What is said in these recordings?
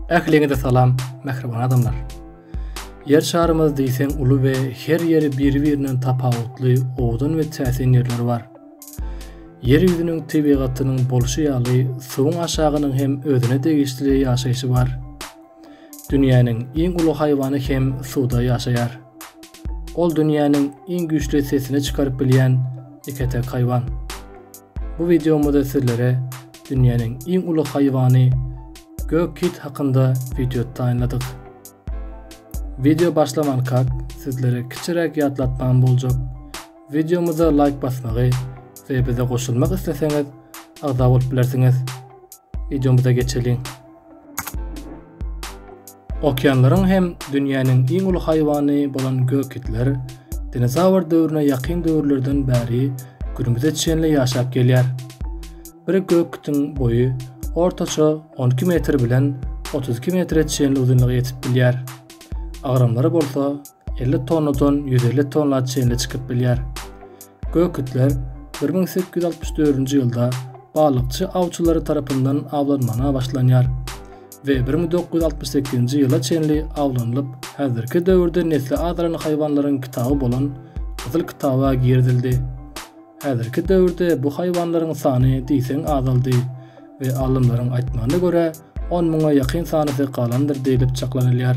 Ähliňize salam, mähriban adamlar. Ýer şarymyz diýseň uly we her ýeri bir-birinden tapawutly, owdan we täsin ýerleri bar. Ýer ýüzüniň tebigatynyň bolşy ýaly, suwuň aşagynyň hem özüne degişli ýaşaýşy bar. Dünýäniň iň uly haýwany hem suwda ýaşaýar. Ol dünýäniň iň güýçli sesini çykaryp bilýän iketek haýwan. Bu wideomyzda sizlere dünýäniň iň uly haýwany gök kit hakynda wideo taýynladyk. Wideo başlamankak sizlere kiçiräk ýatlatmam boljak. Wideomyza laýk basmagy we bize goşulmak isleseňiz agza bolup bilersiňiz. Wideomyza geçeliň. Okeanlaryň hem dünýäniň iň uly haýwany bolan gök itler dinozawr döwrüne ýakyn döwürlerden bäri günümize çenli ýaşap gelýär. Bir gök itiň boýy ortaça on iki metr bilen otuz iki metre çenli uzynlyga ýetip bilýär. Agramlary bolsa 50 tonnadan 150 tonna çenli çykyp bilýär. Gökitler 1864-nji ýylda balykçy awçylary tarapyndan awlanmana başlanýar we 1968-nji ýyla çenli awlanylyp, häzirki döwürde nesli azalan haýwanlaryň kitaby bolan Gyzyl kitaba girizildi. Häzirki döwürde bu haýwanlaryň sany diýseň azaldy we alymlaryň aýtmagyna görä, on müňe ýakyn sanysy galandyr diýlip çaklanylýar.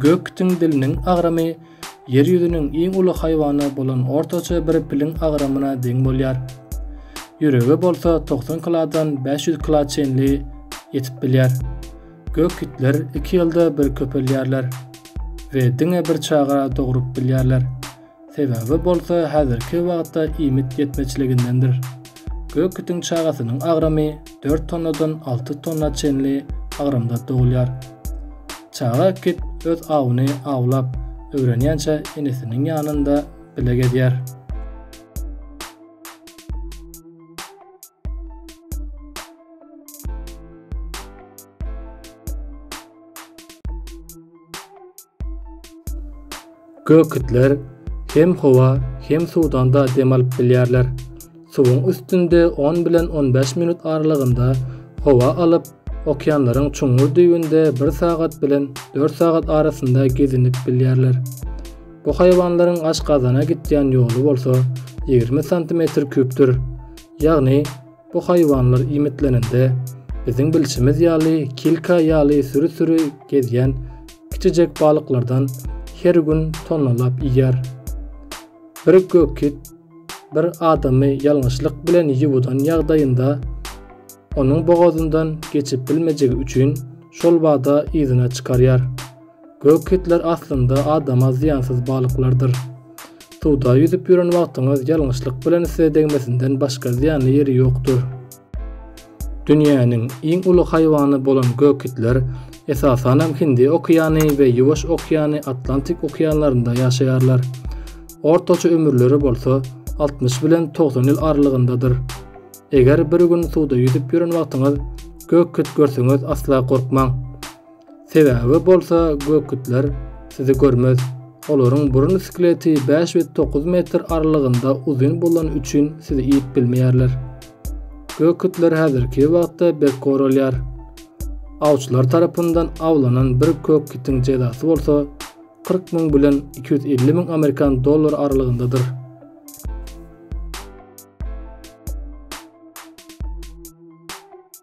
Gök itiň diliniň agramy Ýer ýüzüniň iň uly haýwany bolan ortaça bir piliň agramyna deň bolýar. Ýüregi bolsa togsan kilodan bäş ýüz kilo çenli ýetip bilýär. Gök itler iki ýylda bir köpelýärler we diňe bir çaga dogrup bilýärler. Sebäbi bolsa häzirki wagtda iýmit ýetmezçiligindendir. Gök itiň çagasynyň agramy dört tonnadan alty tonna çenli agramda dogulýar. Çaga kit öz awyny awlap öwrenýänçä enesiniň ýanynda bile gezýär. Gökitler hem howa, hem suwdanda dem alyp bilýärler. Suwuň üstünde 10 bilen 15 minut aralygynda howa alyp, okeanlaryň çuňňur düýbünde 1 sagat bilen 4 sagat arasynda gezinip bilýärler. Bu haýwanlaryň aşgazana gitýän ýoly bolsa 20 santimetr küpdür. Ýagny, Bu haýwanlar iýmitlenende, biziň bilşimiz ýaly kilka ýaly süri-süri gezýän kiçijek balyklardan her gün tonnalap iýýär. Bir gökkit bir adamy ýalňyşlyk bilen ýuwudan ýagdaýynda, onuň bogazyndan geçip bilmejegi üçin şol bada yzyna çykarýar. Gök itler aslynda adama zyýansyz balyklardyr. Suwda ýüzüp ýören wagtyňyz ýalňyşlyk bilen size degmesinden başga zyýanly ýeri ýokdur. Dünýäniň iň uly haýwany bolan gök itler, esasanam Hindi okeany we Ýuwaş okeany, Atlantik okeanlarynda ýaşaýarlar. Ortaça ömürleri bolsa, altmyş bilen togsan ýyl aralygyndadyr. Eger bir gün suwda ýüzüp ýören wagtyňyz gök it görsüňiz asla gorkmaň. Sebäbi bolsa bökütler sizi görmez. Olaryň burun skeleti bäş we dokuz metr aralygynda uzyn bolany üçin sizi iýip bilmeýärler. Bökütler häzirki wagtda berk goralýar. Awçylar tarapyndan awlanan bir kökitiň jezasy bolsa kyrk müň bilen iki ýüz elli müň amerikan dollary aralygyndadyr.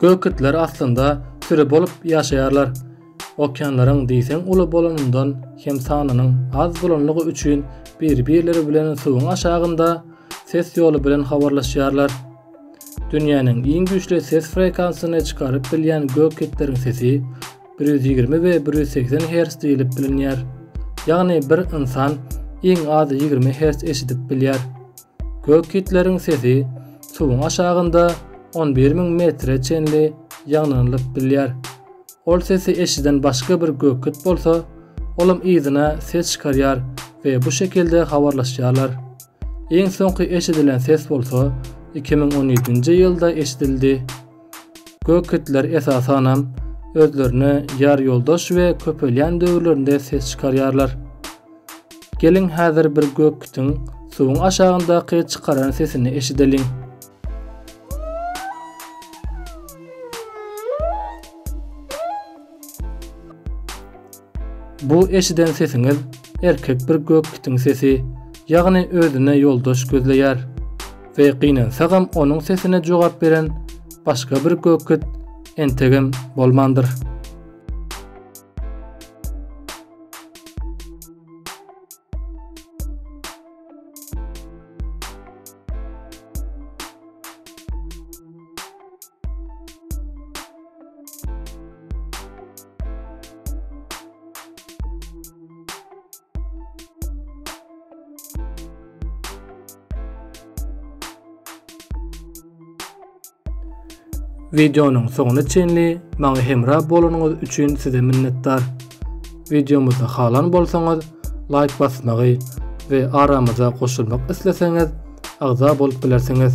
Gök itler aslynda süri bolup ýaşaýarlar. Okeanlaryň diýseň uly bolanyndan hem sanynyň az bolanlygy üçin bir-birleri bilen suwuň aşagynda ses ýoly bilen habarlaşýarlar. Dünýäniň iň güýçli ses frekansyny çykaryp bilýän gök itleriň sesi bir ýüz ýigrimi we bir ýüz segsen herz diýlip bilinýär. Ýagny bir ynsan iň az ýigrimi herz eşidip bilýär. Gök itleriň sesi suwuň aşagynda on bir müň metre çenli ýaňlanylyp bilýär. Ol sesi eşiden başga bir gök it bolsa, olam yzyna ses çykarýar we bu şekilde habarlaşýarlar. Iň soňky eşidilen ses bolsa iki müň on ýedinji ýylda eşidildi. Gök itler esasanam özlerine ýar ýoldaş we köpelýän döwürlerinde ses çykarýarlar. Geliň häzir bir gök kitiň suwuň aşagyndaky çykaran sesini eşideliň. Bu eşiden sesiňiz erkek bir gök itiň sesi, ýagny özüne ýoldaş gözleýär we gynansagam onuň sesine jogap beren başga bir gök it entegem bolmandyr. Videonyň soňuna çenli maňa hemra bolanyňyz üçin size minnetdar. Videomyzy halan bolsaňyz, laýk basmagy we aramyza goşulmak isleseňiz, agza bolup bilersiňiz.